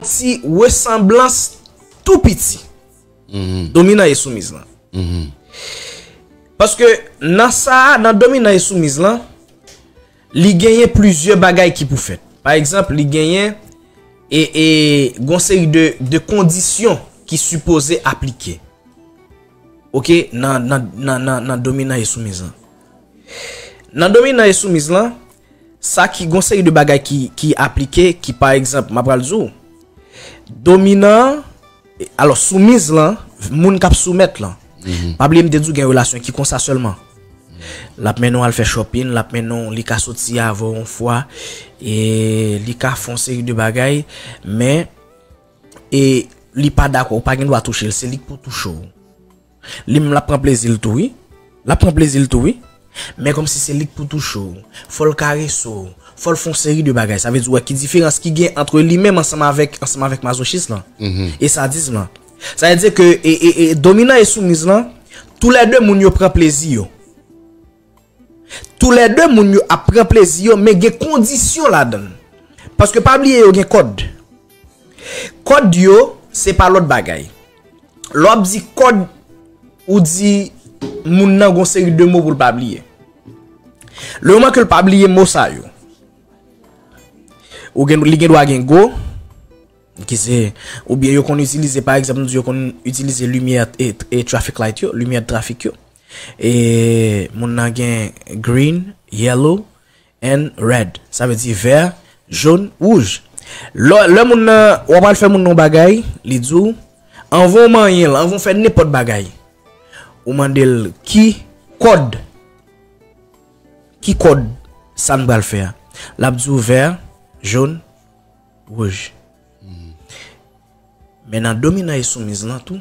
Ti resanblans tou piti. Mm-hmm. Dominan e soumiz lan. Mm-hmm. Paske nan sa, nan dominan e soumiz lan, li genyen plizye bagay ki pou fèt. Pa egzanp, li genyen e, e gonseri de, de kondisyon ki sipoze aplike. Ok, nan, nan, nan, nan, nan dominan e soumiz lan. Nan dominan e soumiz lan, sa ki gon seri de bagay ki aplike ki pa egzanp, m apral di w. Dominan an, alò soumiz lan, moun k ap soumèt lan. Pa bliye m te di w gen relasyon ki konsa sèlman. L ap mennen w al fè chòpin, l ap mennen w, li ka soti avè w yon fwa, e li ka fè yon seri de bagay, men e li pa dakò, ou pa gen dwa touche l, se li k pou touche w. Li menm lap pran plezil tou wi. Lap pran plezil tou wi. Men komsi se lik pou touche w. Fol karese w. Fol fon seri de bagay. Sa vle di ou wè ki diferans ki gen antre li menm ansanm avek ansanm avek mazochis lan. E sadism lan. Sa vle di ke e e e dominan e soumiz lan tou lè 2 moun yo pran plezi yo. Tou lè 2 moun yo ap pran plezi yo men gen kondisyon ladan l. Paske pa bliye yo gen kòd. Kòd yo se pa lòt bagay. Lè w ap di kòd ou di moun nan gon seri de mo pou l pa bliye. Le moman ke l pa bliye mo sa yo. Ou gen li gen dwa gen go. Ki se ou byen yo konn itilize pa egzanp nou di yo konn itilize limyè e trafik light yo. Limyè trafik yo. E moun nan gen green, yellow and red. Sa vle di vè, joun, wouj. Lè moun nan, w ap pral fè moun nan yon bagay, li di w, anvan w manyen l, anvan w fè nenpòt bagay, ou mande l ki kòd, ki kòd sa m pral fè a. L ap di w vè, joun, wouj. Men nan dominan e soumiz lan tou.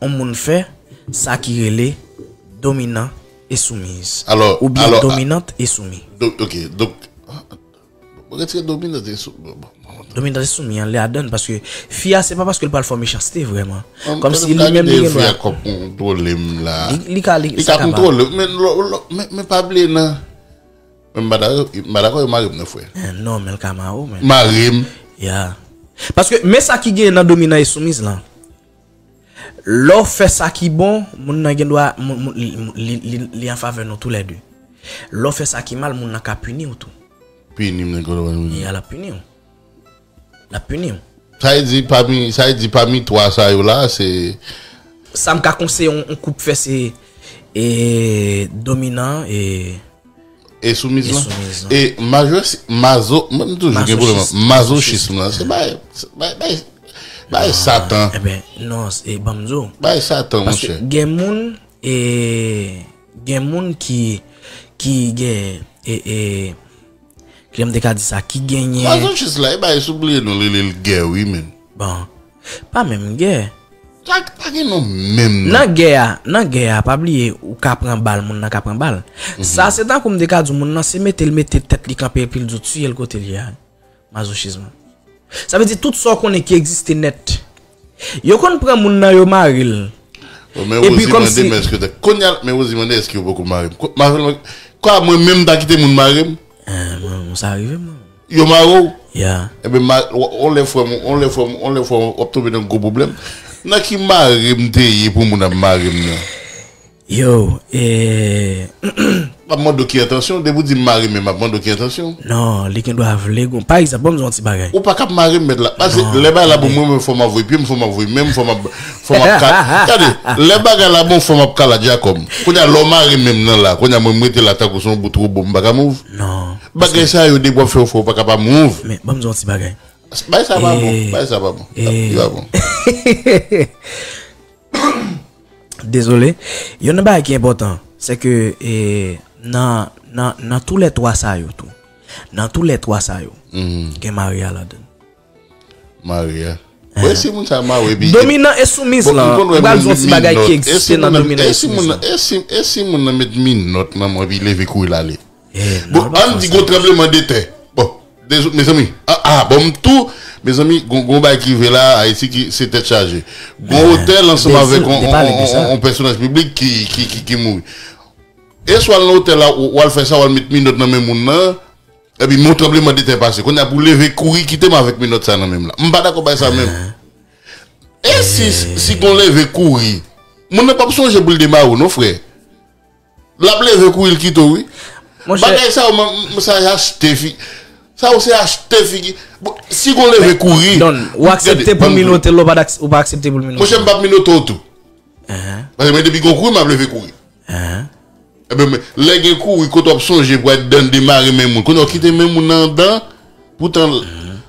On moun fè sa ki rele dominan e soumiz. Ou byen dominant e soumi. Ok, donk. Mwen retire dominant e soumi. Dominant e soumi an li ladan paske fi a se pa paske li pral fè mechanste vreman. Kòm si li menm li gen dwa. Li ka li sa ka pa. Men pa bliye nan. Mwen pa dakò, mwen pa dakò yo mare m nan fre. Non men l ka mare w men. Mare m. Ya. Paske men sa ki gen nan dominan e soumiz lan. Lè w fè sa ki bon, moun nan gendwa li an favè nou tou lè de. Lè w fè sa ki mal, moun nan ka pini w tou. Pini m nan gendwa pini m. Ya, l ap pini w. L ap pini w. Sa e di pami, sa e di pami 3 sa yo la, se. Sa m ka konseye yon koup fè se dominan e. E soumiz lan. E mazochis mazo mwen m toujou gen pwoblèm ak mazochism lan se bay bay bay satan. E ben non e banm di w. Bay satan mon chè. Paske gen moun e gen moun ki ki gen e e kijan m te ka di sa ki genyen. Mazochis la e bay sou bliye non li li l gè wi menn. Bon Pa menm gè. Tag pa gen non menm non. Nan gè a, nan gè a pa bliye ou ka pran bal moun nan ka pran bal. Sa se tankou m te ka di w moun nan se mete l mete tèt li kanpe epi l di w tiye l kote l ye a. Mazochism lan. Sa vle di tout sa w konnen ki egziste nèt. Yo konn pran moun nan yo mare l. Bon men Rosie mande men eske. Kounya men Rosie mande eske yo poko mare m. Mwen menm m ta kite moun mare m? Mwen sa rive mwen. Yo mare w? Ya. Ebe ma, on lè frè m, on lè frè m, on lè frè m, w ap tonbe nan gwo pwoblèm. Nan ki mare m te ye pou moun ap mare m nan? Yo, ee. M ap mande w ki entansyon w, depi w di m mare men m ap mande w ki entansyon w? Non, li gen dwa vle gon, pa egzanp, ban m di w on ti bagay. Ou pa ka ap mare m mèt la. Pase lè bagay la pou mwen, mwen fò m ap voye pye m, fò m ap voye men m, fò m ap, Fò map ka tande lè bagay la bon fò map ka la djakob kounya lè w mare menm nan la kounya mwen m rete la tankou son bout robo m paka mouv bagay sa yo depi wap fè ou fè ou paka pa mouv. Men banm di w yon ti bagay. Bagay sa pa bon bagay sa pa bon li pa bon. Dezole yon nan bagay ki enpòtan se ke nan nan nan tou lè 3 sa yo tou nan tou lè 3 sa yo gen mari a ladann. Maria. Mwen si moun sa ma we bi. Dominan e soumiz bon, lan. Mwen bal zon ti bagay ki egziste nan dominan e soumiz lan. E si moun nan met minòt nan mwen bi leve kouri lale. Bon an di gon tranbleman de tè. Bon mezanmi a a bon m tou mezanmi gon bay ki ve la ayiti ki se tèt chaje. Gon otèl ansanm avèk on pèsonaj piblik ki mouri. E swa l nan otèl la wal fè sa wal met minòt nan men moun nan. Epi men yon tranbleman de tè pase. Kounye a pou leve kouri kite m avèk menòt sa nan men m la. M pa dakò bay sa menm. E si si gon leve kouri. Moun nan p ap sonje pou l demare w non frè. L ap leve kouri l kite w wi. Bagay sa yo m sa se achte fi. Sa yo se achte figi. Si gon leve kouri. Don, ou aksepte pou minote l ou pa aksepte pou l minote w? Monchè m p ap minote w tou. Paske mwen depi gon kouri m ap leve kouri. Hein. Ebyen men lè gen kouri kot wap sonje pou al dan demare men moun kounye wap kite men moun nan andan poutan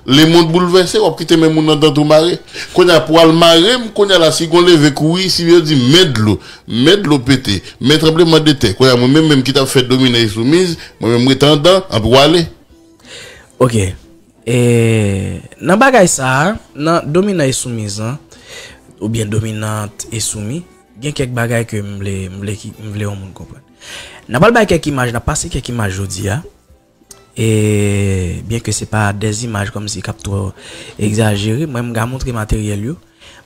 lemond boulvèse wap kite men moun nan andan tou mare kounye a pou al marem kounye a la si gon leve kouri si yo di men dlo men dlo pete men tranbleman de tè kounye a mwen menm menm ki tap fè domine e soumiz mwen menm rete andan anpi wale. Ok e nan bagay sa nan dominan e soumiz lan oubyen dominant e soumi. Gen kèk bagay ke m vle, m vle ki, m vle yon moun konprann. N apral bay kèk imaj, n ap pase kèk imaj jodi a. E, byen ke se pa de zimaj kòm si k ap twò egzajere, mwen m ka montre materyèl yo,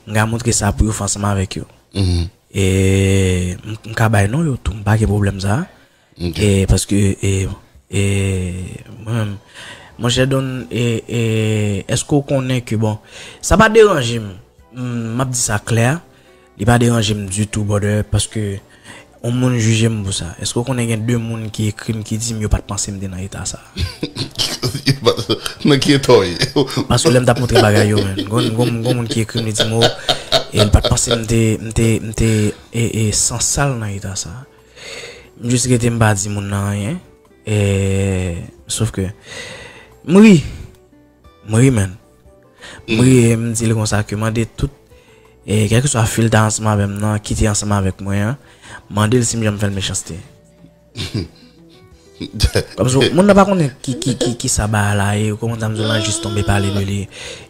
m ka montre sa pou yo fè ansanm avèk yo. E, m ka bay non yo tou, m pa gen pwoblèm sa a. E paske e e mwen menm monchè Don e e eske ou konnen ke bon sa pa deranje m map di sa klè li pa deranje m ditou brother paske yon moun jije m pou sa eske ou konnen gen 2 moun ki ekri m ki di m yo pat panse m te nan eta sa nan ki eta w ye paske lè m tap montre bagay yo men gon moun ki ekri m li di m oh e li pat panse m te m te m te e e san sal nan eta sa. M jis rete m pa di moun nan anyen eeh sof ke m ri m ri menn m ri e m di l konsa ke mande tout e kèlkeswa fi l ta ansanm avè m nan ki te ansanm avèk mwen an mande l si m janm fè l mechanste kòmsi moun nan pa konnen ki ki ki ki sa bagay la ye kòman ta m di w la jis tonbe pale de li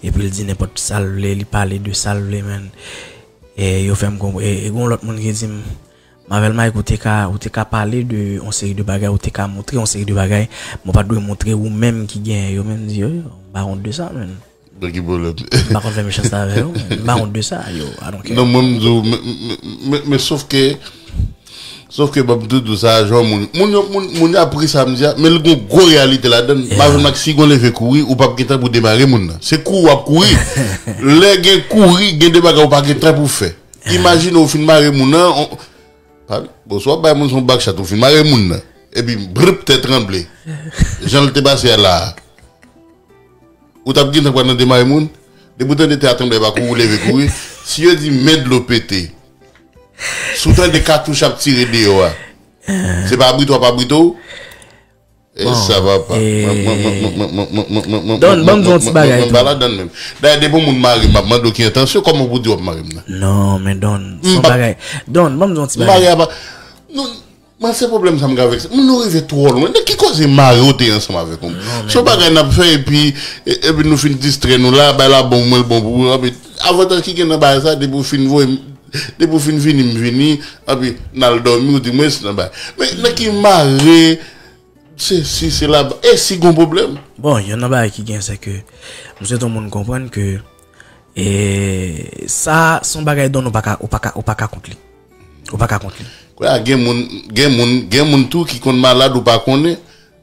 epi l di nenpòt sa l vle li pale de sa l vle menn e yo fè m konprann e gon lòt moun ki di m. Marvel Mike ou te ka ou te ka pale de yon seri de bagay ou te ka moutre yon seri de bagay men ou pat dwe moutre ou menm ki genyen yo menm di yo yo m pa ront de sa menn Nan ki pwoblèm? M pa konn fè mechanste avè yo menn m pa ront de sa yo I don't care Non mwen m di w men men sof ke sof ke banm tou di w sa jan moun moun yo moun moun yo ap ri sa m di a men l gon gwo reyalite ladann Marvel Mike si gon leve kouri ou pap gen tan pou demare moun nan se kouri w ap kouri lè gen kouri gen de bagay ou pa gen tan pou w fè. Imajine ou fin mare moun nan, bon sou ap bay moun son bakchat ou fin mare moun nan, epi brip tè tranble, jan l te pase a la a. Ou tap gen tan pran nan demare moun? Depi ou tande tè a tranble epa kou ou leve kouri. Si yo di men dlo pete, si w tande katouch ap tire deyò a, se pa abrite w ap abrite w? Bon ee Don banm di yon ti bagay tou. Mwen pa ladann menm. Dayè depi yon moun marem map mande w ki entansyon kòman pou w di wap marem nan. Non men Don son bagay. Don banm di yon ti bagay. Mare a pa Nou Mwen se pwoblèm sa m gen avèk sa. Nou rive twò lwen. Nan ki koze mare w te ansanm avèk yon moun. Son bagay nap fè epi epi nou fin distrè nou la bay la bon pou mwen l bon pou ou. Avantaj ki gen nan bagay sa depi w fin voye m. Depi ou fin vini m vini anpi n al dòmi ou di mwen se nan bay. Men nan ki mare se si se la e si gon pwoblèm. Bon yon nan bagay ki gen se ke m swete yon moun konprann ke e sa se yon bagay don ou pa ka ou pa ka ou pa ka kont li. Ou pa ka kont li. Kounye a gen moun gen moun gen moun tou ki konn malad ou pa konnen.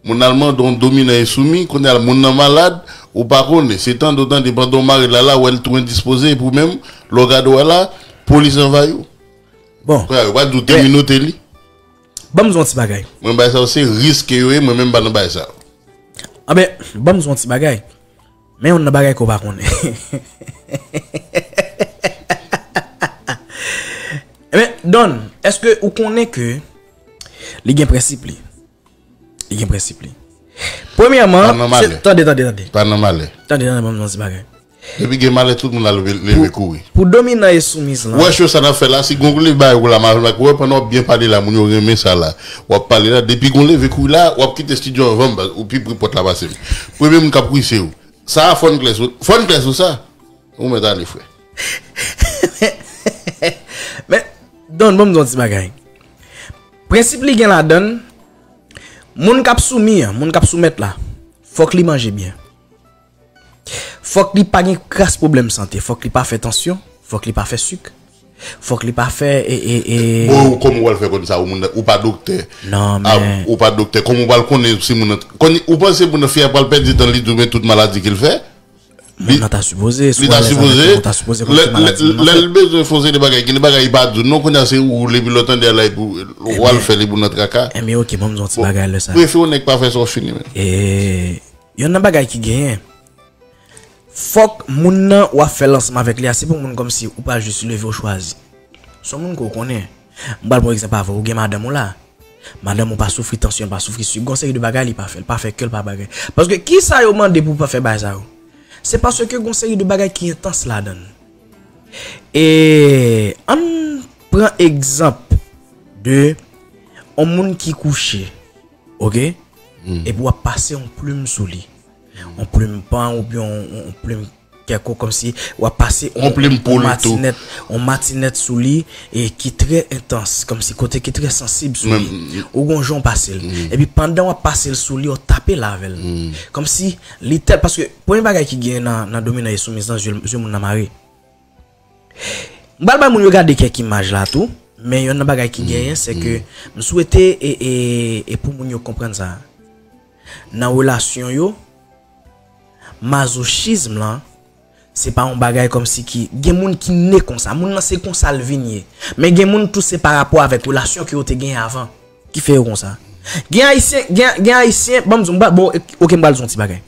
Moun al mande w dominan e soumis, kounye a moun nan malad, ou pa konnen. Se tande w tande pandan w mare l a la, wè l tou endispoze epi w menm, lè w gade w a la, polis anvayi w. Bon. Kounye a, yo pa di w te minote li. Ban m di w yon ti bagay. Mwen bay sa yo se risk ke yo ye, mwen menm m pa nan bagay sa yo. Anben, ban m di w yon ti bagay. Men youn nan bagay ke w pa konnen. Anben, Don, èske ou konnen ke li gen prensip li? Li gen prensip li. Premyèman, se tande tande tande. Pa nan malè. Tande tande banm nan ti bagay. Depi gen malè tout moun al leve kouri. Pou dominan e soumiz lan. Wè show sa nap fè la si gon li bay ou la mal wè pandan wap byen pale la moun yo renmen sa la wap pale la depi gon leve kouri la wap kite studio anvanm baz ou pi pre pòt la pasem premye moun kap kouri se ou sa a fòn klè sou fòn klè sou sa ou mèt ale frè. Men Don banm di yon ti bagay. Prensip li gen ladan l, moun k ap soumi an, moun k ap soumèt la, fòk li manje byen. Fòk li pa gen kras pwoblèm sante, fòk li pa fè tansyon, fòk li pa fè sik, fòk li pa fè e, e, e. Bon ou kòman ou pral fè konn sa ou moun nan ou pa doktè Non a men. ou pa doktè kòman ou pral konnen si moun nan t konn ou panse moun nan fi a pral pèdi dan l li di w men tout maladi ke l fè? Moun nan ta sipoze sou alèz avèk ou, ou ta sipoze konn ki maladi moun nan fè. Lèl bezwen fon seri de bagay, gen de bagay li pa di w non, kounye a se ou li epi lè w tande a la epi w al fè li pou nan traka. Enben ok banm di w yon ti bagay lè sa. Bon, prefe yon nèg pa fè sa w fini menm. Yonn nan bagay ki genyen, fòk moun nan wap fè lansman avèk li a se pou moun kòmsi ou pa jis leve ou chwazi. Son moun ke w konnen. M pral pran yon egzanp avè w, ou gen madanm ou la. Madanm ou pa soufri tansyon, l pa soufri sik, gen yon seri de bagay li pa fè, l pa fè kè l pa bagay. Paske ki sa yo mande pou w pa fè bagay sa yo? Se paske gen yon seri de bagay ki entans ladan l. E an n pran egzanp de yon moun ki kouche, oke, epi w ap pase yon plim sou li, yon plim pan oubyen yon plim. kèk ou kòmsi w ap pase on matinèt sou li e ki trè entans kòmsi kote ki trè sansib sou li ou gon jan w pase l epi pandan w ap pase l sou li w tape l avè l kòmsi li tèl paske premye bagay ki gen nan dominan e soumiz lan zye moun nan mare m pral bay moun yo gade kèk imaj la tou men yonn nan bagay ki genyen se ke m swete e pou moun yo konprann sa nan relasyon yo. Mazochism lan se pa yon bagay kòmsi ki gen moun ki ne konsa, moun nan se konsa l vin ye. Men gen moun tou se pa rapò avèk relasyon ke yo te genyen avan ki fè yo konsa. Gen ayisyen, gen ayisyen, banm di w, m pral, bon ok m pral di w yon ti bagay.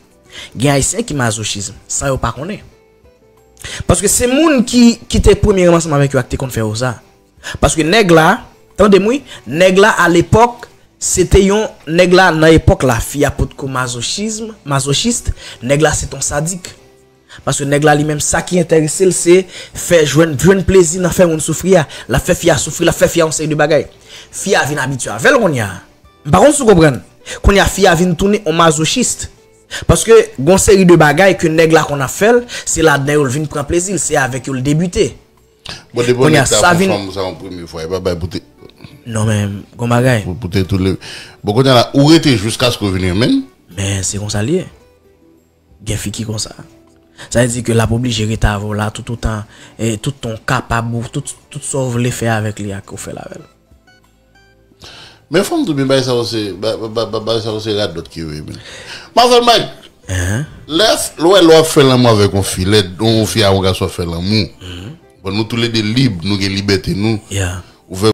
Gen ayisyen ki mazochism san yo pa konnen. Paske se moun ki te premyereman ansanm avèk yo a ki te konn fè yo sa. Paske nèg la, tande m wi, nèg la a lepòk, se te yon, nèg la nan epòk la, fi a potko mazochism, masochist, nèg la se t on sadik. Paske nèg la li menm sa ki enterese l se fè jwenn, jwenn plezi nan fè moun soufri a. L ap fè fi a soufri, l ap fè fi a yon seri de bagay. Fi a vin abitye avè l kounye a. M pa konn si w konprann. Kounye a fi a vin tounen on masochist. Paske gon seri de bagay ke nèg la konn ap fè l, se ladan yo l vin pran plezi l, se avèk yo l debite. Bon depo nèg sa pou fanm sa yon premye fwa e pa bay poute. Non men gon bagay. Pou poute tou le. Bon konnya la ou rete jiskaske ou vin renmenn. Men se konsa li ye. Gen fi ki konsa. Sa vle di ke lap oblije rete avè w la tout otan tout tan ou kapab ou tout sa ou vle fè avèk li a ke ou fèl avèl. Men fòm di w byen bagay sa yo se bagay sa yo se radòt ki yo ye byen. Manzè Mike lè l wè lè w ap fè lanmou avèk yon fi lè yon fi ak yon gason ap fè lanmou bon nou tou le 2 lib nou gen libète nou ou vè.